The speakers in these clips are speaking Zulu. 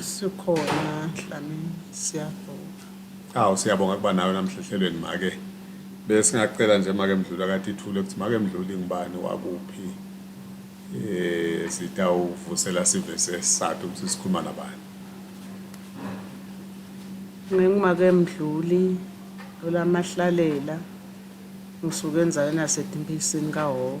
Sikhona Dlamini siyabonga. Awu siyabonga kuba nawe namhlehlelweni make. Besingacela nje make Mdluli akade ithule ukuthi make Mdluli ngibani wakuphi. Eh sitawuvusela sive sesathu ukuthi sikhuluma nabani. Ngingumake Mdluli olamahlalela ngisuke enzaweni yaseDimbisini kaHhoho.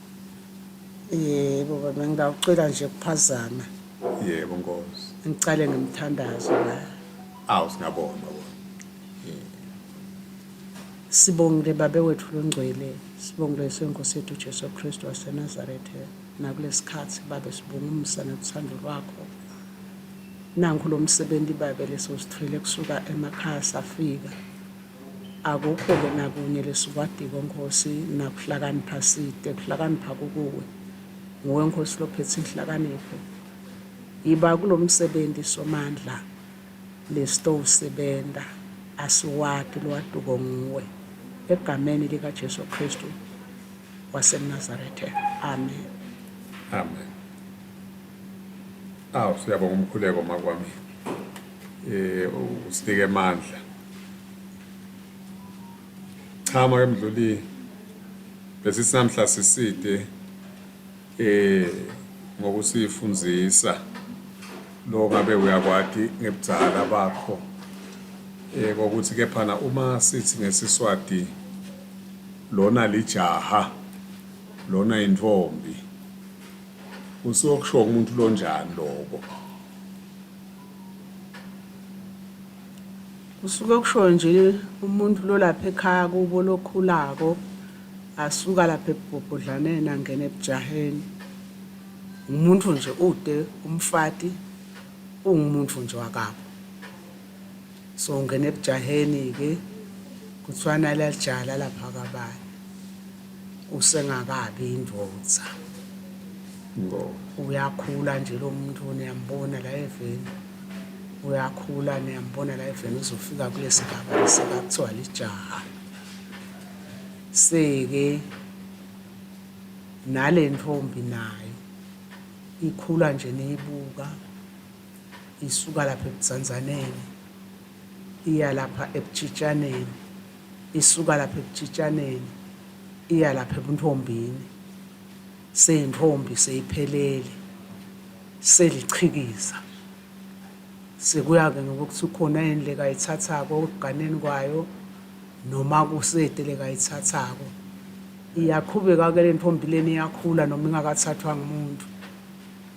yebo baba ngingawucela nje kuphazama yebo nkosi ngicale ngemthandazo la awu singabona baba sibongile babe wethu longcwele sibongile senkosi yethu Jesu Kristu waseNazaretha nakulesikhathi babe sibonga umusa nothando lwakho nanku lo msebenzi babe leso sithwele kusuka emakhaya safika Akukho-ke nakunye lesikwadiko, Nkosi, nakuhlakanipha side, kuhlakanipha kukuwe. Nguwe, Nkosi, lophethe inhlakanipho. Yiba kulomsebenzi Somandla, lesitowusebenta, asiwati lwaduko nguwe. Egameni lika Jesu Kristu waseNazarethe. Amen. Amen. Awu, siyabonga umkhuleko makwami. eh usinike amandla cha make mdluli bese sinamhla siside eh ngokusifundisa lo ngabe uyakwati ngebudzala bakho eh kokuthi kephana uma sithi ngesiswati lona lijaha lona intombi usuyokusho umuntu lonjani lokho Kusuke kusho nje umuntu lolapha ekhaya kubo lokhulako asuka lapha ebubhodlaneni angena ebujaheni umuntu nje ude umfati ungumuntu nje wakabo So ngene ebujaheni ke kuthiwa nalalijala lapha kabani usengakabi indvodza uyakhula nje lo muntu niyambona la eveni uyakhula niyambona la eveni uzofika kulesi gaba lesika kuthiwa lijaha seke nale ntombi nayo ikhula nje niyibuka isuka lapha ebudzanzaneni iya lapha ebutshitaneni isuka lapha ebutshitaneni iya lapha ebuntombini seyintombi seyiphelele selichikiza sekuya-ke ngokuthi ukhona yini lekayithathako ekuganeni kwayo noma kusede lekayithathako iyaqhubeka-ke le ntombi leni iyakhula noma ingakathathwa ngumuntu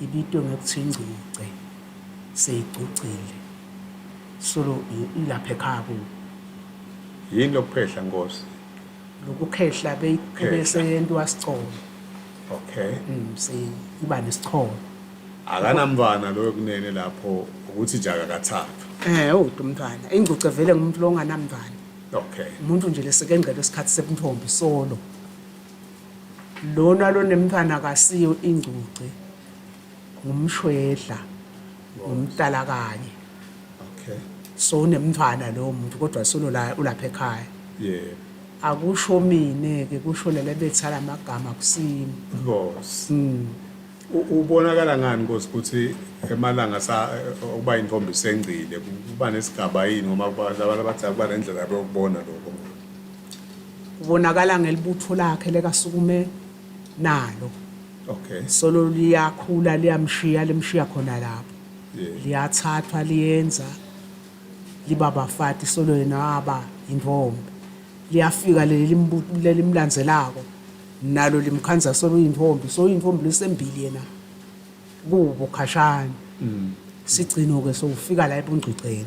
ibitwe ngokuthiwa ingcuce, seyigcucile. Solo ilapha ekhaya kubo. Yini lokuphehla Nkosi? Lokukhehla beyiseyentwa sicholo. Okay. Mm, seyiba nesicholo. Akanamntwana loyo kunene lapho ukuthi nje akakathathwa. Eh, uthi umntwana. Ingcuce vele ngumuntu longanamntwana. Okay. Umuntu nje lesekengcela isikhathi sebuntombi solo. lona lonemntwana kasiyo ingcuce ngumshwedla ngumtala kanye okay so unemntwana lowo muntu kodwa solo la ulapha ekhaya yeah akusho mina ke kusho lele bethala amagama kusini inkosi mm. ubonakala ngani inkosi ukuthi emalanga sa ukuba intombi isengcile kuba nesigaba yini ngoba abantu abathi akuba nendlela yokubona lokho Ubonakala ngelibutho lakhe lekasukume nalo. Okay. Solo liyakhula liyamshiya limshiya khona lapho. Yeah. Liyathathwa liyenza liba bafati solo yena aba intombi. Liyafika leli limbu- lelimlandzelako nalo limkhandza solo intombi so intombi lesembili yena kubo khashane. Sigcino ke sokufika la ebungcweceni.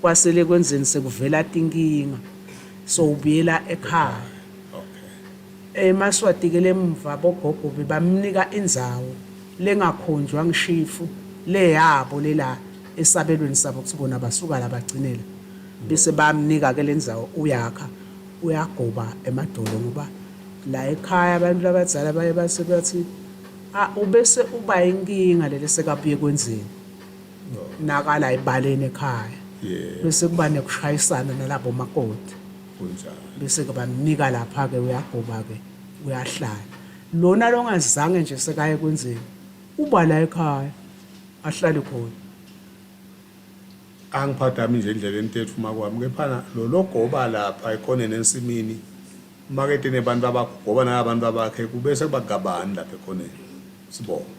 Kwasele kwenzeni sekuvela tinkinga so ubuyela ekhaya. Okay. Emaswatikele eh, emva bogogo bebamnika indzawo lengakhonjwa ngishifu leyabo lela esabelweni sabo kuthi bona basuka la bagcinela bese bamnika ke lendzawo uyakha uyagoba emadolo ngoba la ekhaya abantu labadzala baye base bathi ah ubese uba inkinga lele sekabuye kwenzeni nakala ebaleni ekhaya yeah bese kuba nekushayisana nalabo makoti kunjalo bese ke bamnika lapha ke uyagoba ke uyahlala lona longazange nje sekaye kwenzeni uba la ekhaya ahlale khona angiphathami nje indlela entethu uma kwami kephana lo logoba lapha ekhoneni ensimini umakete nebantu abagoba nabantu abakhe kubese kubagabani lapha ekhoneni sibonga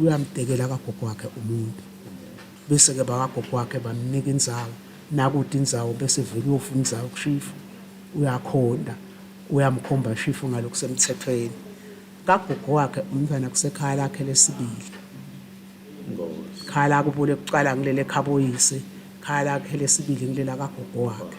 uyamdekela kagogo wakhe umuntu bese-ke bakagogo wakhe bamnika inzawo nakude inzawo bese vele uyofuna inzawo kushifu uyakhonda uyamkhomba shifu ngalokhu semthethweni kagogo wakhe umntwana kusekhaya lakhe lesibili khaya lakubo lekuqala ngilele ekhaboyise khaya lakhe lesibili ngilela kagogo wakhe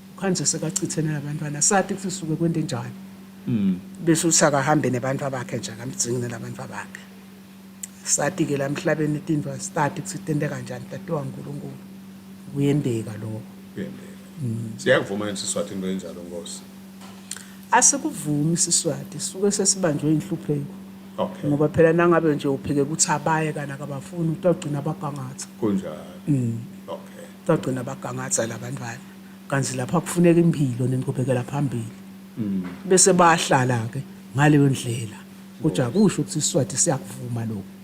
Kanje sekachithene nabantwana sati kuthi suke kwente njani. Mm. Bese uthi akahambe nebantu abakhe nje akamdzingi nelabantu abakhe. Sati ke lamhlabeni tintwa stati kuthi tente kanjani tatiwa uNkulunkulu. Kuyendeka lokho. Kuyendeka. Mm. Siyakuvuma yini Siswati into enjalo Nkosi? Asikuvumi Siswati suke sesibanjwe inhlupheko. Okay. Ngoba phela nangabe nje uphike ukuthi abaye kana kabafuni utagcina abagangatha. Kunjalo. Mm. bagcina bagangatha labantwana kanti lapha kufuneka impilo nenqubekela phambili mm. bese bahlala ke ngaleyo ndlela kodwa kusho ukuthi isiswati siyakuvuma lokho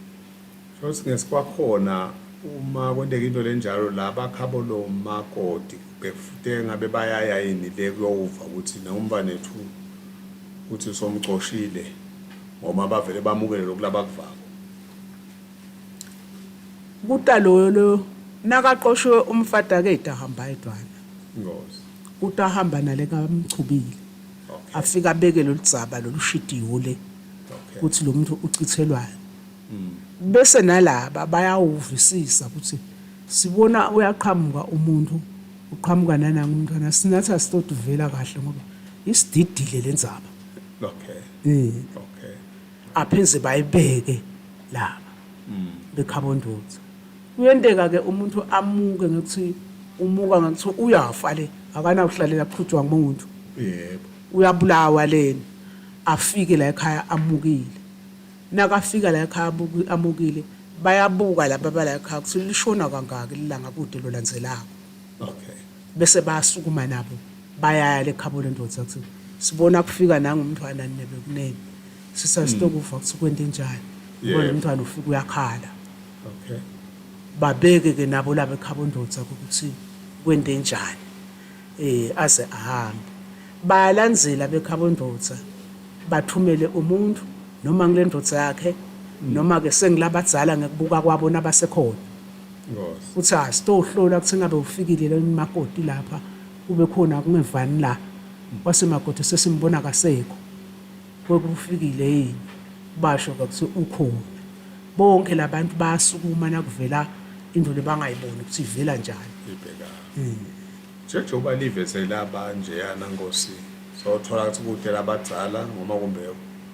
shothi ngesikwakhona uma kwenteka into lenjalo la bakhabo lo makoti bekufute ngabe bayaya yini le kuyowuva ukuthi nombanethu ukuthi somcoshile ngoba bavele bamukele lokulaba kuvako Kuta loyo loyo nakaqoshiwe umfati akade ahamba edwana. Ngozi. Kuta ahamba nale kamchubile. Okay. Afika abeke loludzaba lolushidiwo le. Okay. Kuthi lo muntu uchithelwayo. Mm. Bese nalaba bayawuvisisa ukuthi sibona uyaqhamuka umuntu uqhamuka nananga umntwana sinathi asitoduvela kahle ngoba isididile lenzaba. Okay. Eh. Okay. apheze bayibeke laba bekhabondotho kuyenteka ke umuntu amuke ngokuthi umuka ngokuthi uyafa le akanawuhlalela kuqhutshwa ngumuntu yebo uyabulawa leni afike la ekhaya amukile nakafika la ekhaya amukile bayabuka laba bala ekhaya ukuthi lishona kangaki lilanga kude lolandzelako okay Bese bayasukuma nabo bayaya lekhabo lendoda kuthi sibona kufika nanga umntwana nine bekuningi sisa sitokuva kuthi kwente njani ubona Yebo. umntwana ufika uyakhala Okay. babeke ke nabo laba ekhabo ndoda ukuthi kwente njani eh aze ahambe bayalandzela bekhabo ndoda bathumele umuntu noma ngilendoda yakhe noma ke sengilabadzala ngekubuka kwabo nabasekhona Uthi ah sitohlola ukuthi ngabe ufikile la umakoti lapha kube khona kungevani la. Kwase makoti sesimbona kasekho. Kwekufikile yini? Basho ke ukuthi ukhona. Bonke labantu bayasukuma nakuvela into lebangayiboni ukuthi ivela njani. Ibhekana. Njengoba livezela abanje yana Nkosi. Sothola ukuthi kude labadzala noma kumbe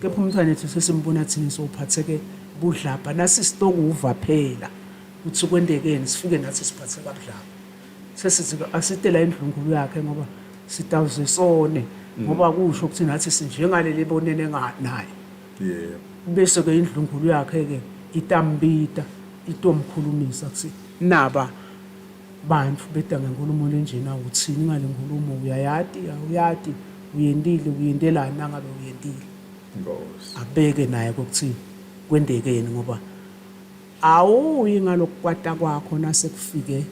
Kepha umntwana ethu sesimbona thina sowuphatheke budlabha nasi sitokuva phela ukuthi kwendekeni sifike nathi siphatheke kabudlabha sesithi asite la endlunkulu yakhe ngoba sitawuze sone ngoba kusho ukuthi nathi sinjengaleli bonene nga- naye yebo bese-ke indlunkulu yakhe-ke itambita itomkhulumisa kuthi naba Bantu beda ngenkulumo lenjena uthini ngale nkulumo uyayati awuyati uyentile uyentelani nangabe uyentile Nkosi. abeke naye kokuthi kwendekeni ngoba awuyi ngalokukwata kwakho nase kufike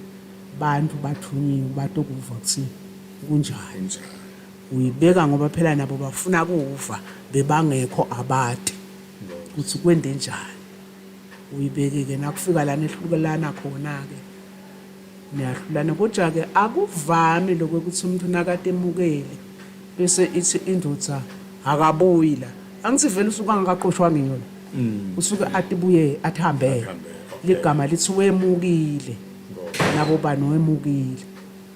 bantu bathunyiwe batokuva ukuthi kunjani Kunjani. uyibeka ngoba phela nabo bafuna kuva bebangekho abati Nkosi. ukuthi kwendenjani uyibeke-ke nakufika lana ehlukelana khona-ke niyahlulana kodwa-ke akuvami lokho ukuthi umuntu nakatemukeli bese ithi indoda akabuyi la angithi vele usuke angakaqoshwanga iyona mm. usuke athi buye athi hambele ligama lithi wemukile nabo bani wemukile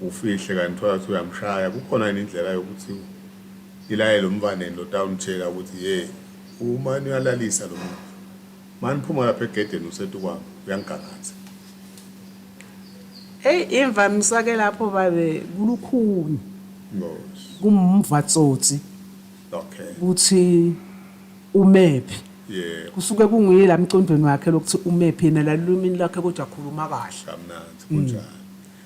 Ufihle kanti uthola ukuthi uyamshaya kukhona yini indlela yokuthi ilayele umvaneni lo tawunitshela ukuthi ye umani uyalalisa lo muntu mani phuma lapha egedeni usetu kwami uyangigangatha Hey imvamisa ke lapho babe kulukhuni ngosi kumva tsotsi okay ukuthi umephi yebo kusuke kunguye la mcondweni wakhe lokuthi umephi yena lalulumini lakhe kodwa akhuluma kahle kamnandi kunjalo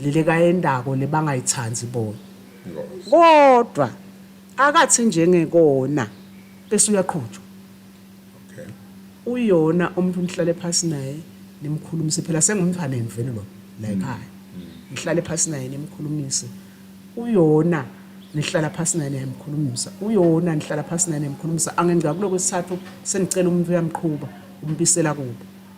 leli kayendako lebangayithandi bona kodwa akathi njengekona bese uyaqhutshwa uyona umuntu nihlale phasi naye nimkhulumise phela sengumthaneni vele lo la mm. ekhaya mm. nihlale phasi naye nimkhulumise uyona nihlala phasi naye nimkhulumisa uyona nihlala phasi naye nimkhulumisa angengca kuloko sithathu senicela umuntu uyamqhuba umbisela kubo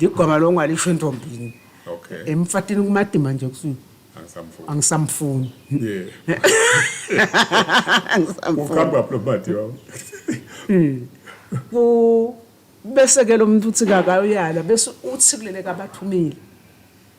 ligwama lo ngalisho entombini okay emfatini kumadima nje kusuke angisamfuni angisamfuni yeah angisamfuni ukhamba plo mati wawo hmm. ku bese ke lo muntu uthi kakayala bese uthi kulele kabathumile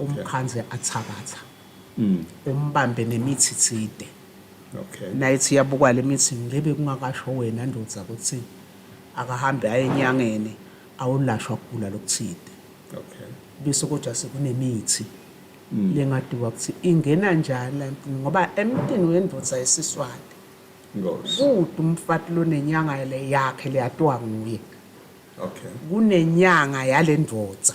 Umkhandle athakatha. Umbambe nemithi tside. Naye ethi iyabukwa le mithi ngebe kungakasho wena ndoda ukuthi akahambe aye enyangeni awulashwa kugula lokuthide. Bese kodwa sekunemithi lengadiwa ukuthi ingena njani la emntwini ngoba emntwini wendoda yesiswati kude umfati lonenyanga le yakhe leyatwa nguye. Kunenyanga yale ndoda.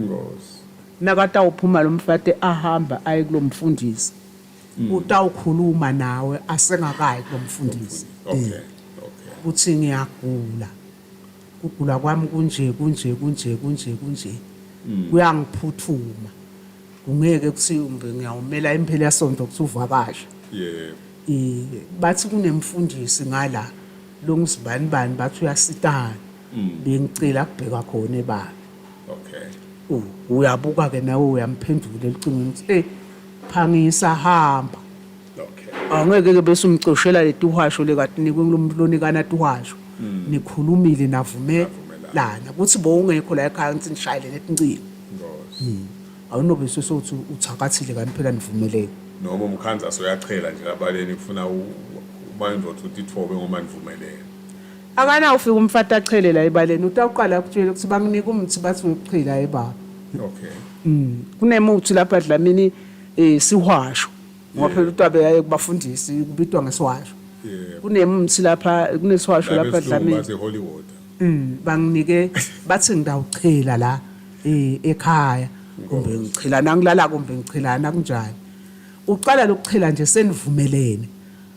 Ngosi. Nakatawuphuma lomfati ahamba aye kulomfundisi mm. utawukhuluma nawe asengakayi kulomfundisi okay. Eh. okay. kuthi ngiyagula kugula kwami kunje kunje kunje kunje kunje mm. kuyangiphuthuma kungeke kuthi umbe ngiyawumela imphela yasonto kuthi uvakasha yebo eh, bathi kunemfundisi ngala lo ngizibani bani bathi uyasitana bengicela kubhekwa khona ebala okay uyabuka ke nawe uyamphendula elicingweni ukuthi hey phangisa hamba okay angeke ke bese umcoshela letuhasho lekatinikwe kulomuntu lonikana tuhasho hmm. nikhulumile navumelana kuthi bowungekho la ekhaya ngithi nishayele netincingo hmm. awunobe sesothi uthakathile kanti phela nivumeleke noma umkhanza soyachela nje abaleni kufuna uma indoda uthi ithobe ngoma nivumelene Akana ufika umfati achele la ebaleni utawuqala akutshele ukuthi bamnike umuthi bathi ngokuchila hayi baba. Okay. Mm. Kunemuthi lapha Dlamini eh sihwasho. Ngoba phela uTabe yaye kubafundisi kubitwa ngesihwasho. Yeah. Kunemuthi lapha kunesihwasho lapha Dlamini. Bathi holy water. Mm. Banginike bathi ngidawuchela la eh ekhaya. Kumbe ngichela nangilala kumbe ngichelana kunjani. Uqala lokuchela nje senivumelene.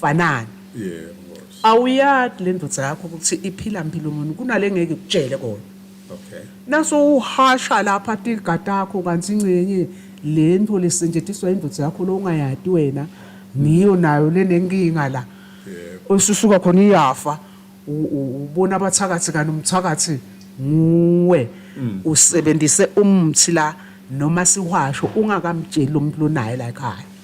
fanani Yeah, of course. awuyati le ndoda yakho ukuthi iphila mpilo muni kunale ngeke ikutshele kona Okay. naso uhasha lapha tiga takho kanti ingcenye le nto lesentshetiswa indoda yakho lo ungayati wena ngiyo nayo lenenkinga la Yebo. osusuka khona iyafa u- u- ubona abathakathi kanti umthakathi nguwe usebenzise umthi la noma siwasho ungakamtsheli lo muntu lonaye la ekhaya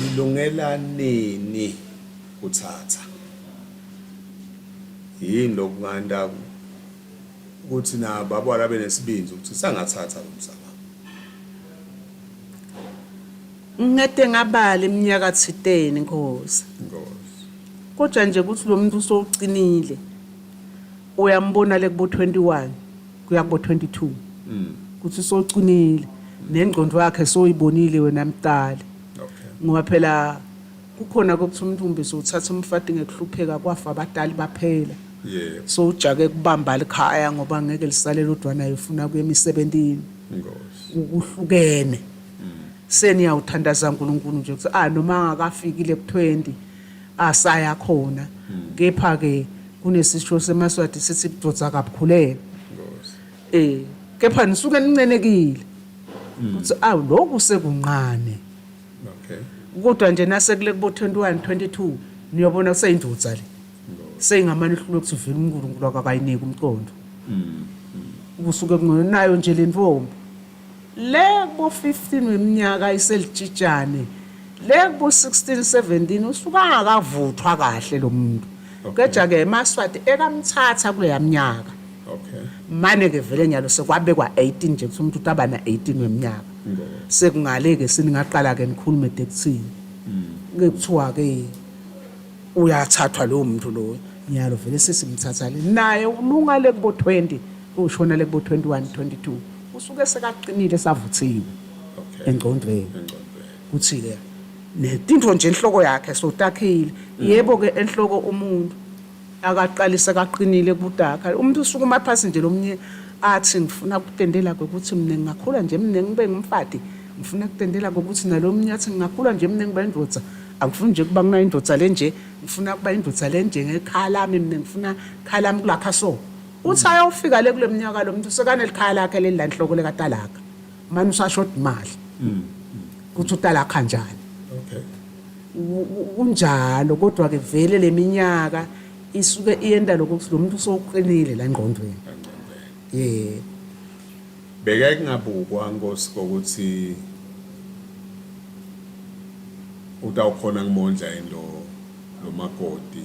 Lilungela nini kuthatha? Yini lokhu nganda ukuthi na baba labe nesibindi ukuthi sangathatha umsamo. Ngede ngabala iminyaka 10 inkosi. Inkosi. Kodwa nje ukuthi lo muntu usowucinile. Uyambona le kubo 21 kuya kubo 22 kuthi socinile nengqondo yakhe soyibonile wena mdali ngoba phela kukhona kokuthi umntumbe sowuthatha umfati ngekuhlupheka kwafa abatali baphela yebo so ujake kubamba likhaya ngoba ngeke lisale lodwa naye ufuna kuye emisebenzini ngosi ukuhlukene seniyawuthandaza uNkulunkulu nje ukuthi ah noma angakafikile ku 20 asaya khona kepha ke kunesisho semaswati sithi budoda akabukhulele eh kepha nisuke nincenekile ukuthi awu lokhu sekunqane okay kodwa nje nasekule kubo 21 22 niyobona kuseyindoda le seyingamane ihlule ukuthi vele uNkulunkulu akakayiniki umqondo kusuke kungenayo nje le ntombi Le kubo 15 weminyaka iselitshitshane le kubo 16 17 usuke angakavuthwa kahle lo muntu keja ke emaswati ekamthatha kuleya minyaka Okay. mane ke vele nyalo sekwabekwa 18 nje kuthi umuntu utaba na 18 weminyaka Ngoba. sekungale ke siningaqala ke nikhulume dekuthini ke kuthiwa ke uyathathwa lowo muntu loyo nyalo vele sesimthatha le naye ulunga le kubo 20 ushonele kubo 21 22 usuke sekaqinile savuthiwe engcondweni kuthi ke netinto nje enhloko yakhe sotakhile yebo ke enhloko umuntu akaqalise kaqinile kutakha umuntu usuke uma phansi nje lomnye athi ngifuna kutendela ukuthi mina ngingakhula nje mina ngibe ngumfati ngifuna kutendela ukuthi nalomnye athi ngingakhula nje mina ngiba indoda angifuni nje kuba kunayindoda lenje ngifuna kuba indoda lenje ngekhala mina ngifuna khala mkulakha so Uthi ayofika le kule mnyaka lo muntu sekanelikhaya lakhe leli lanhloko lekatalaka. Manje usashoda imali. Ukuthi utalakha njani. Okay. U- u- Kunjalo kodwa ke vele leminyaka isuke iyenda lokho ukuthi lo muntu usoqinile la ngqondweni. Yeah. Beke kungabukwa Nkosi kokuthi utawukhona kumondla yini lo lo makoti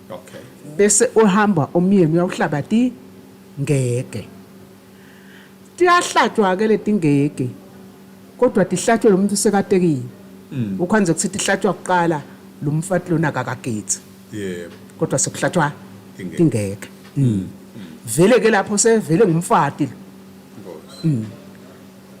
okay bese uhamba umyeni uyawuhlaba ti ngeke tiyahlatshwa ke letingeke kodwa tihlatshwe lo muntu usekatekile hmm. ukhonze ukuthi tihlatshwa kuqala lo mfati lona akakagethi yebo kodwa sekuhlatshwa ingeke hmm. Hmm. vele ke lapho sevele ngumfati lo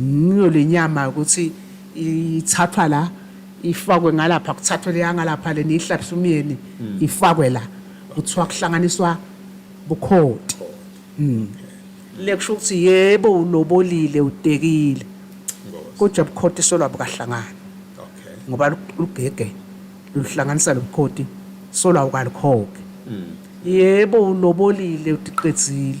ngiyo le nyama ukuthi ithathwa la ifakwe ngalapha kuthathwe leya ngalapha le niyihlabisa umyeni hmm. ifakwe la kuthiwa kuhlanganiswa bukhoti hmm. le kusho ukuthi yebo ulobolile udekile kodwa bukhoti solwa bukahlangana ngoba lugege luhlanganisa lobukhoti solwa ukalikhoke hmm. yebo ulobolile udiqedzile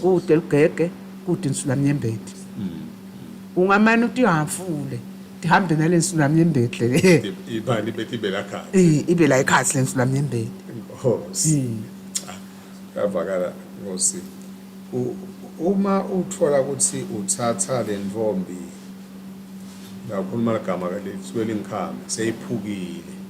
kude lugege kude insulamnyembeti mm. ungamane uthi uhafule ndihambe nale nsulamnyembeti le ibani bethi ibe la khathi ibe la ikhathi le nsulamnyembeti nkosi mm. ah, yavakala nkosi uma uthola ukuthi uthatha le ntombi ngakhuluma ligama ke lisuke lingikhame seyiphukile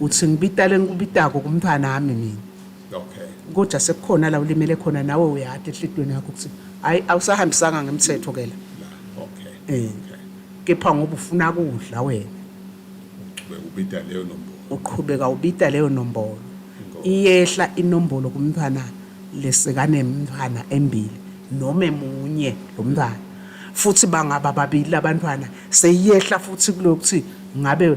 uthi ngibita lengikubitako kumntfwana ami mina Okay. kodwa sekukhona la ulimele khona nawe uyati enhlitiyweni yakho ukuthi hhayi awusahambisanga ngemthetho ke la La. Okay. Eh. Okay. kepha ngoba ufuna kudla wena Ube ubita leyo nombolo. uqhubeka ubita leyo nombolo Inkosi. iyehla inombolo kumntwana lesekanemntwana embili noma emunye lo mntwana futhi bangaba babili labantwana seyiyehla futhi kulokuthi ngabe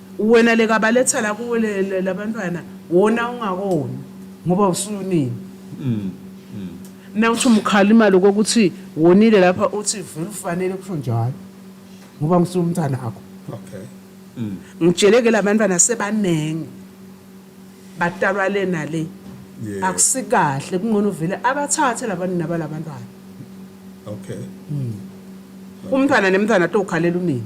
Wena lekabaletha la kuwe labantwana wona ungakona ngoba usunini mm. Nawuthi umkhalima lokho ukuthi wonile lapha uthi vele ufanele kusho njalo ngoba ngisumntana akho okay mm. ngitsheleke labantwana sebaningi Badalwa le nale. Yeah. Akusikahle kungcono vele abathathe labantu nabalabantwana. Okay. Mm. Umntwana nemntwana tokhalela unini.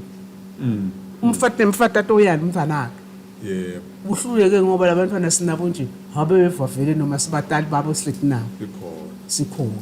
Mm. Umfati nemfati atoyala umntwana wakhe. Yeah. Uhluleke ngoba labantwana sinabo nje habe bevavele noma sibatali babo sihleti nabo. Sikhona. Sikhona.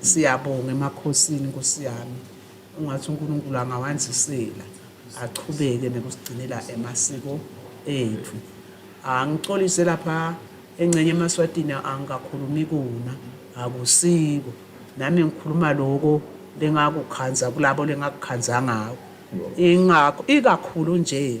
Siyabonga emakhosini nkosi yami ungathi uNkulunkulu angawandisela achubeke nokusigcinela emasiko ethu angixolise lapha engcenye emaswatini angikakhulumi kona akusiko nami ngikhuluma loko lengakukhanza kulabo lengakukhanza ngako ingakho ikakhulu nje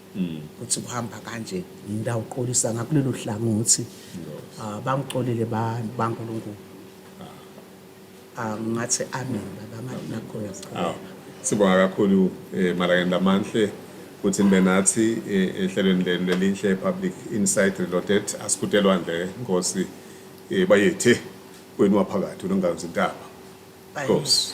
ukuthi kuhamba kanje ngidawuxolisa ngakulelo hlangothi ah, bangixolile bankulunkulu ah, ngathi amen baba ngathi nakho ah, sibonga kakhulu eh, malakenda manhle ukuthi nibe nathi eh, ehlelweni lenu lelinhle public insight reloaded asikutelwa nje nkosi eh, bayethe kwenu waphakathi unongazi intaba nkosi